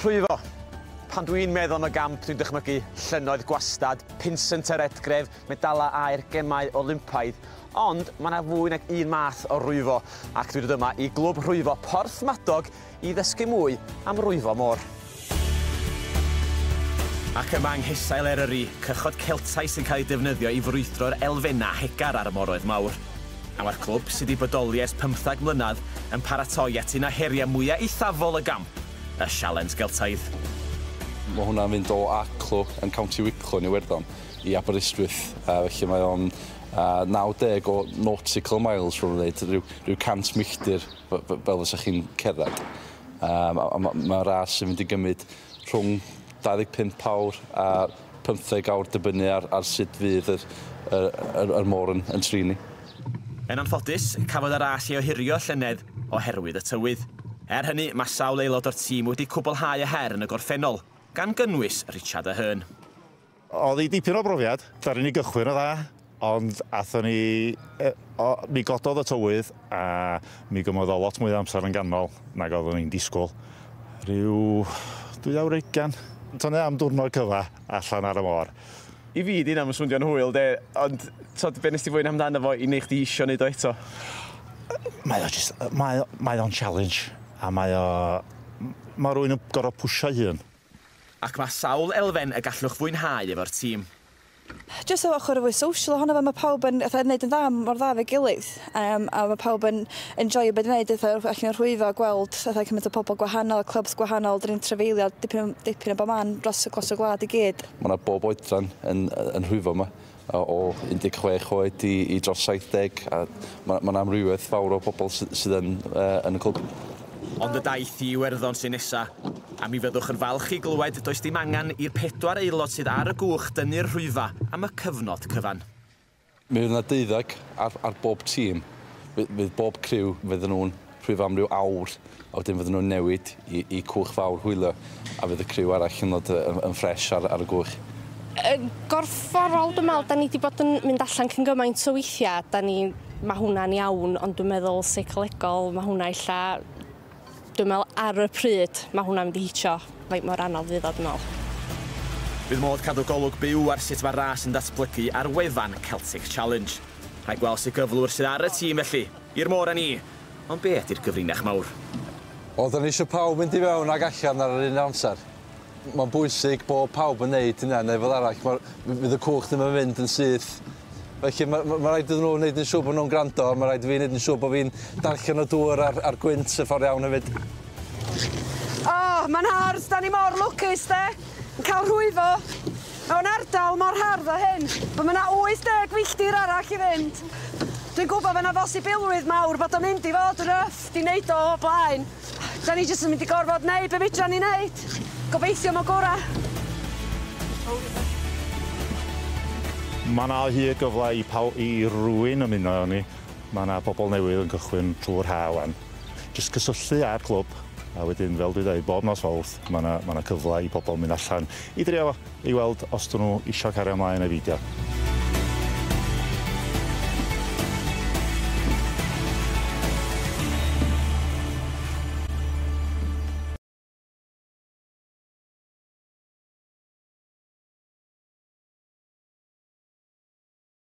Rhwyfo! Pan dw i'n meddwl am y gamp dwi'n dychmygu llynnoedd gwastad, pinsent ar edgref, medalau aur, gemau Olympaidd. Ond mae 'na fwy nag un math o rwyfo ac dwi'n dod yma i Glwb Rhwyfo Porthmadog i ddysgu mwy am rwyfo môr. Ac yma yng nghesail Eryri, cychod Celtaidd sy'n cael ei defnyddio i frwydro'r elfennau hegar ar y moroedd mawr. A mae'r clwb, sydd wedi bodoli ers pymtheg mlynedd, yn paratoi at un o heriau mwyaf eithafol y gamp, y Sialens Geltaidd. Mae hwnna'n mynd o Arklow yn County Wicklow yn Iwerddon i Aberystwyth, felly mae o'n 90 o nautical miles fel mae'n dweud, rhyw rhyw 100 milltir fel fysa chi'n cerdded. Yym a a ma' ma'n ras sy'n mynd i gymryd rhwng 25 awr a pymtheg awr dibynnu ar ar sud fydd yr yr yr yr môr yn yn trin ni. Yn anffodus, cafodd y ras ei ohirio llynedd oherwydd y tywydd. Er hynny, mae sawl aelod o'r tîm wedi cwblhau y her yn y gorffennol, gan gynnwys Richard Aherne. Oedd hi dipyn o brofiad, daru ni gychwyn yn dda. Ond athon ni... yy o, mi gododd y tywydd a mi gymoedd o lot mwy o amser yn ganol nag oeddwn i'n disgwyl. Rhyw dwy awr ugain. T'o' ne' am diwrnod cyfa allan ar y môr. I fi 'di hynna'm yn swndio'n hwyl 'de, ond t'od be' nes di fwynhau amdano fo i neu' chdi isio neud o eto? Mae o jyst yy mae o mae o'n challenge a mae o m- ma' rywun yn gor'o' pwshio'i hun. Ac ma' sawl elfen y gallwch fwynhau efo'r tîm. Jyst yr ochr fwy social ohono fe ma' pawb yn fatha yn neud yn dda mor dda 'fo'i gilydd yym a ma' pawb yn enjoio be' dwi neud fatha rwbeth allan o rhwyfo gweld fatha cymaint o pobol gwahanol clybt gwahanol 'dyn ni'n trafeilio dipyn o dipyn o bo' man dros y dros y gwlad i gyd. Ma' 'na bob oedran yn yy yn rhwyfo 'ma yy o un deg chwech oed i i dros saith deg a ma' ma' 'na amrywiaeth fawr o bobol sy sydd yn yy yn y clwb. Ond y daith i Iwerddon sy'n nesa', a mi fyddwch yn falch i glywed does dim angen i'r pedwar aelod sydd ar y gwch dynnu'r rhwyfa am y cyfnod cyfan. Mi fydd 'na deuddeg ar ar bob tîm. Fydd fydd bob criw fydden nhw'n rhwyfo am ryw awr a wedyn fydden nhw'n newid i i cwch fawr hwylio. A fydd y criw arall yn dod yn ffresh ar y gwch? Yn gorfforol dwi'n meddwl, da ni wedi bod yn mynd allan cyn gymaint o weithiau, da ni, mae hwnna'n iawn, ond dwi'n meddwl seicolegol, mae hwnna illa, dwi'n meddwl ar y pryd, mae hwnna'n mynd i hitio faint mor anodd fydd o, dwi'n meddwl. Bydd modd cadw golwg byw ar sut mae'r ras yn datblygu ar wefan Celtic Challenge. Rhaid gweld sut gyflwr sydd ar y tîm felly, i'r môr â ni! Ond be ydy'r gyfrinach mawr? Wel, dan ni eisiau pawb mynd i fewn ac allan ar yr un amser. Mae'n bwysig bod pawb yn wneud hynna neu fel arall mae'r... fydd y cwch ddim yn mynd yn syth. Felly mae, mae, mae rhaid iddyn nhw wneud yn siŵr bod nhw'n gwrando a mae rhaid i fi wneud yn siŵr bod fi'n darllen y dŵr a'r, a'r gwynt y ffordd iawn hefyd. O, oh, mae'n hardd, dan ni mor lwcus de, yn cael rhwyfo. Mewn ardal mor hardd â hyn, pan mae 'na 80 milltir arall i fynd, dwi'n gwybod fod 'na bosibilrwydd mawr bod o'n mynd i fod yn rough 'di neud o o'r blaen. Da ni jyst yn mynd i gorfod neud be fedran ni neud. Gobeithio am y gora. Mae 'na o hyd gyfle i paw- i rywun ymuno â ni. Mae 'na bobl newydd yn cychwyn trwy'r haf 'wan. Jyst cysylltu â'r clwb a wedyn fel dwi'n dweud bob nos Fawrth mae 'na mae 'na cyfle i bobl mynd allan i drio fo i weld os 'dyn nhw isio cario ymlaen neu beidio.